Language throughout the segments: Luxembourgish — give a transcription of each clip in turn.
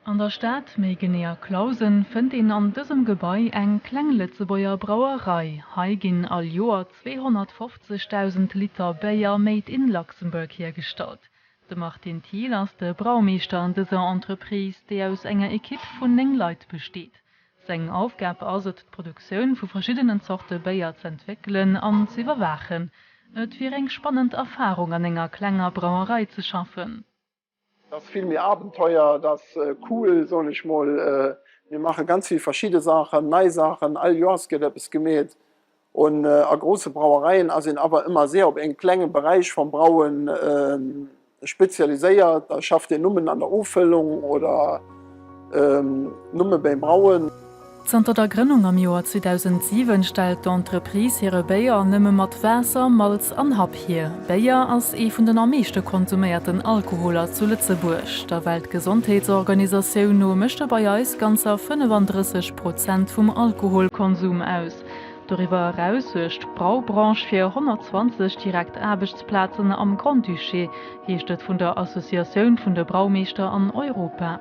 An der Stad, méi genee a Clausen, fënnt een an dësem Gebai eng kleng Lëtzebuerger Brauerei. Hei ginn all Joer 250.000 Liter Béier made in Luxembourg hiergestallt. De Martin Thiel ass de Braumeeschter an dëser Entreprise, déi aus enger Ekipp vun néng Leit besteet. Seng Aufgab ass et, d'Produktioun vu verschiddenen Zorte Béier z'entwéckelen an z'iwwerwaachen. Et wier eng spannend Erfarung, an enger klenger Brauerei ze schaffen. Et ass vill méi Abenteuer. Et ass cool, soen ech mol. Mir maache ganz vill verschidde Saachen, nei Saachen. All Joers gëtt eppes gemeet. Und a grosse Brauereien ass een awer ëmmer seer op een klenge Beräich vam Brauen spezialiséiert. Da schafft een nummen an der Offüllung oder numme beim Brauen. Zanter der Grënnung am Joer 2007 stellt d'Entreprise hire Béier nëmme mat Waasser, Malz an Happ hier. Béier ass ee vun den am meeschte konsuméierten Alkoholer zu Lëtzebuerg. Der Weltgesondheetsorganisatioun no mécht e bei eis ganzer 35 Prozent vum Alkoholkonsum aus. Doriwwer eraus suergt d'Braubranche fir 120 direkt Aarbechtsplazen am Grand-Duché, heescht et vun der Associatioun vun de Braumeeschter an Europa.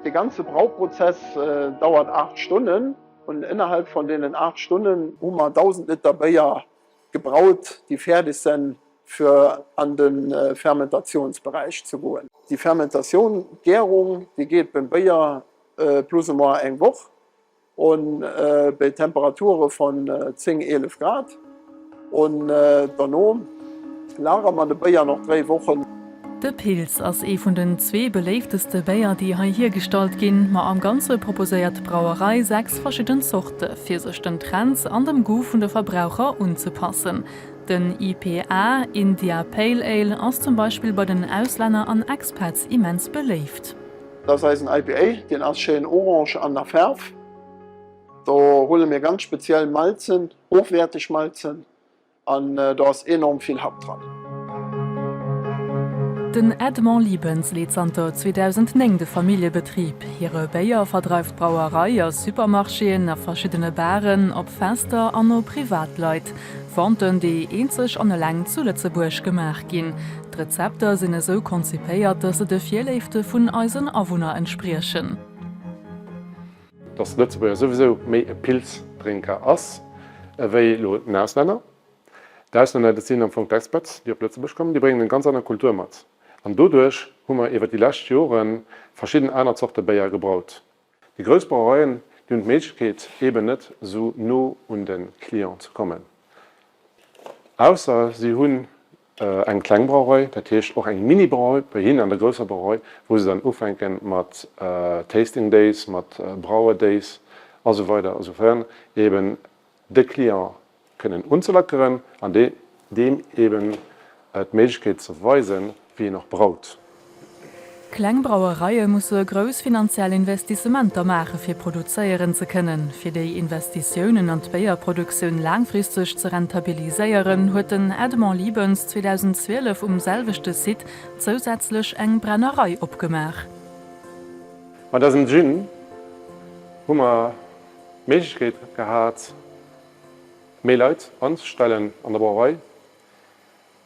De ganze Brauprozess dauert 8 Stonnen an ënnerhalb vun deenen 8 Stonnen hu mer 1.000 Liter Béier gebraut, déi fäerdeg sen fir an de Fermentatiounsberäich ze goen. Déi Fermentatioun, d'Gärung, déi geet beim Béier plus ou moins eng Woch. On bei Temperature von 10, 11 Grad on derno lagere mer de Béier nach 3 Wochen. De Pils ass ee vun den zwee beléifteste Béier déi hei hiergestallt ginn, ma am Ganze proposéiert d'Brauerei 6 verschidden Zorte fir sech den Trends an dem Goût vun de Verbraucher unzepassen. Den IPA, India Pale Ale, ass zum Beispill bei den Auslänner an Expats immens beléift. Dat ass eisen IPA, deen ass schéin orange an der Faarf. Do huele mir ganz speziell Malzen, hochwäerteg Malzen an do ass enorm vill Happ dran. Den Edmond Liebens leet zanter 2009 de Familljebetrib. Hire Béier verdreift d'Brauerei a Supermarchéen, a verschiddene Baren, op Fester an no Privatleit. Venten, déi eenzeg an eleng zu Lëtzebuerg gemaach ginn. D'Rezepter sinn esou konzipéiert, dass se de Virléifte vun eisen Awunner entspriechen. Dass de Lëtzebuerger souwisou méi e Pils-Drénker ass ewéi elo den Auslänner. D'Auslänner, dat sinn am Fong d'Expats, déi op Lëtzebuerg kommen, déi bréngen eng ganz aner Kultur mat. An doduerch hu mer iwwer déi lescht Joren verschidden aner Zorte Béier gebraut. Déi grouss Brauereien, déi hunn d'Méiglechkeet eben net esou no un de Client ze kommen, ausser si hunn eng kleng Brauerei, dat heescht och eng Mini-Brauerei bei hinnen an der grousser Brauerei, wou se dann ufänke mat Tasting Days, mat Brauer Days a sou weider a sou fern eben. de Client kënnen unzelackeren an deem eben d'Méiglechkeet ze weisen, wéi een och braut. Kleng Brauereie musse grouss finanziell Investissementer maache fir produzéieren ze kënnen. Fir déi Investitiounen an d'Béierproduktioun laangfristeg ze rentabiliséieren, huet den Edmond Liebens 2012 um selwechte Site zousätzlech eng Brennerei opgemaach. Mat eisem Gin hu mer D'Méiglechkeet gehat, méi Leit anzestellen an der Brauerei.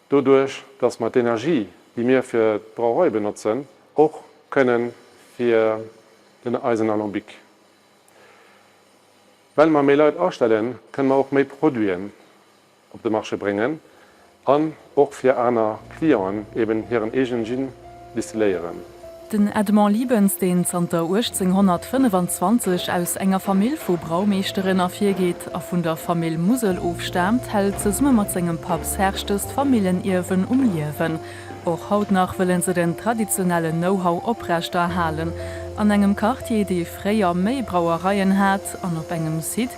Doduerch, dass mer d'Energie, déi mir fir d'Brauerei benotzen, och kënne fir den eisen Alambic. Well mer méi Leit astellen, kënne mer och méi Produiten op de Marché bréngen an och fir aner Clienten eben hiren eegenen Gin distilléieren. Den Edmond Liebens, deen zanter 1825 aus enger Famill vu Braumeeschteren ervirgeet a vun der Famill Musel ofstaamt, hält zesumme mat sengem Papp Serge dëst Famillenierwen um Liewen. Och haut nach wëlle se den traditionellen Know-how oprechterhalen. An engem Quartier, dee fréier méi Brauereien hat an op engem Site,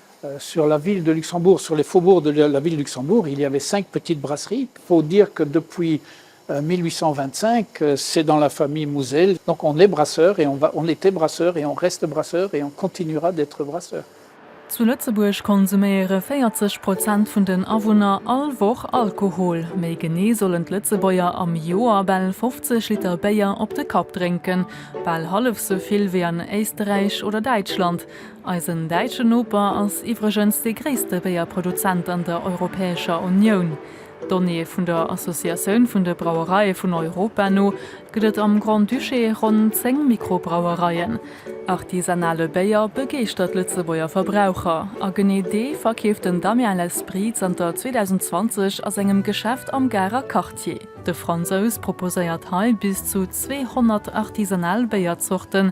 Sur la ville de Luxembourg, sur les faubourgs de la ville de Luxembourg, il y avait cinq petites brasseries. Il faut dire que depuis 1825, c'est dans la famille Mousel. Donc on est brasseur et on va, on était brasseur et on reste brasseur et on continuera d'être brasseur. Zu Lëtzebuerg konsuméiere 40 Prozent vun den Awunner all Woch Alkohol. Méi genee sollen d'Lëtzebuerger am Joer bal 50 Liter Béier op de Kapp drénken. Bal hallef sou vill wéi an Éisterräich oder Däitschland. Eisen däitschen Noper ass iwwregens dee gréisste Béierproduzent an der Europäescher Unioun. Donnéeë vun der Associatioun vun de Brauereie vun Europa no gëtt et am Grand-Duché ronn 10 Mikrobrauereien. Artisanale Béier begeeschtert d'Lëtzebuerger Verbraucher a genee dee verkeeft den Damien L'Esprit zanter 2020 a sengem Geschäft am Garer Quartier. De Fransous proposéiert hei bis zu 200 artisanal Béierzorten,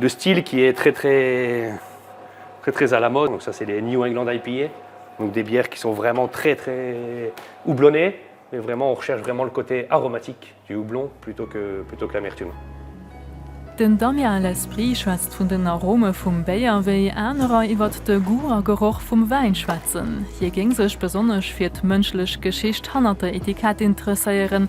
De Stil qui est très très très très à la mode, donc ça c'est des New England IPA, donc des bières qui sont vraiment très très houblonnées, mais vraiment on recherche vraiment le côté aromatique du houblon plutôt que plutôt que l'amertume. Den Damien L'esprit schwätzt vun den Arome vum Béier, wéi anerer iwwert de Goût a Geroch vum Wäin schwätzen. Hie géing sech besonnesch fir d'mënschlech Geschicht hannert der Etikett interesséieren,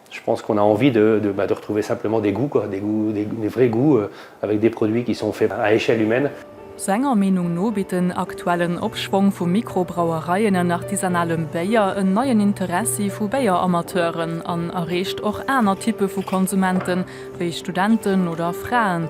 Je pense qu'on a envie de de bah de retrouver simplement des goûts quoi, des goûts, des des vrais goûts avec des produits qui sont faits à échelle humaine. Senger Meenung no bitt den aktuellen Opschwong vu Mikrobrauereien an artisanalem Béier en neien Interessi vu Béieramateuren an erreecht och aner Typpe vu Konsumenten, wéi Studenten oder Fraen.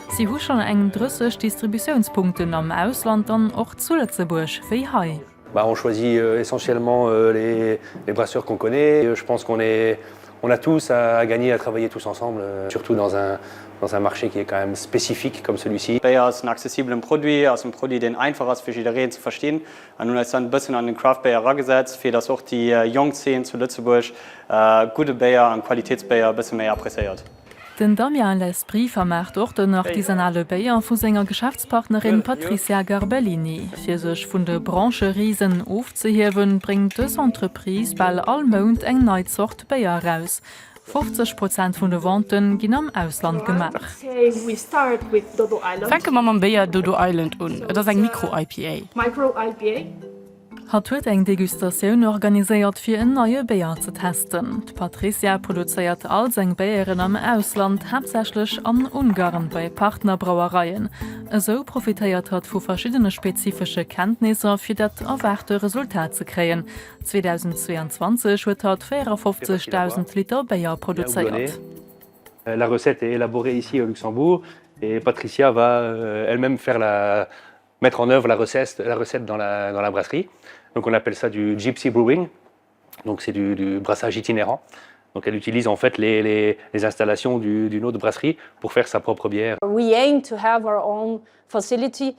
Si hu schonn eng 30 Distributiounspunkten am Ausland an och zu Lëtzebuerg, wéi hei. On choisit essentiellement les brasseurs qu'on connaît. Je pense qu'on est, on a tous à gagner à travailler tous ensemble, surtout dans un, dans un marché qui est quand même spécifique comme celui-ci. Béier ass en accessibelen Produit, ass en Produit deen einfach ass fir jiddereen ze verstinn an hunn eis dann en bëssen an den Craft Béier eragesetzt fir dass och déi jonk Zeen zu Lëtzebuerg gudde Béier an Qualitätsbéier e bësse méi appréciéiert. Den Damien Lesbry vermaacht och den artisanale Béier vu senger Geschäftspartnerin Patricia Garbellini. Fir sech vun de Brancherisen ofzehiewen, bréngt dës Entreprise bal all Mount eng nei Zort Béier eraus. 50 Prozent vun de Vente ginn am Ausland gemaach. Fänke mer mam Béier Dodo Island un. Et ass eng Micro-IPA. Hatt huet eng Degustatioun organiséiert fir en neie Béier ze testen. D'Patrizia produzéiert all seng Béieren am Ausland, haaptsächlech an Ungarn bei Partnerbrauereien. Esou profitéiert hatt vu verschiddene spezifesche Kenntnisser fir dat erwaarte Resultat ze kréien. 2022 huet hatt 54.000 Liter Béier produzéiert. Mettre en œuvre la recette, la recette dans la, dans la brasserie. Donc on appelle ça du gypsy brewing. Donc c'est du, du brassage itinérant. Donc elle utilise en fait les, les, les installations du, d'une autre brasserie pour faire sa propre bière. We aim to have our own facility.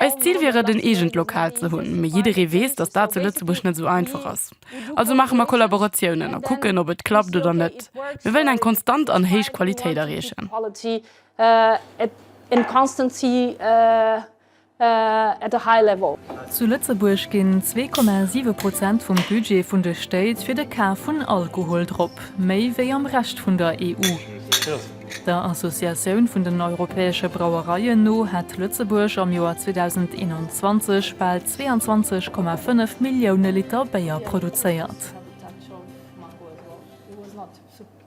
Eist Zil wier et, en eegent Lokal ze hunn, mee jidderee weess, dass dat zu Lëtzebuerg net esou einfach ass. Also maache mer Kollaboratiounen a kucken, ob et klappt oder net. Mir wëllen eng konstant an héich Qualitéit erreechen. in constancy at a high level. Zu Lëtzebuerg ginn 2,7 Prozent vum Budget vun de Stéit fir de Kaf vun Alkohol drop, méi wéi am Rescht vun der EU. Der Associatioun vun den europäesche Brauereien no hätt Lëtzebuerg am Joer 2021 bal 22,5 Millioune Liter Béier produzéiert.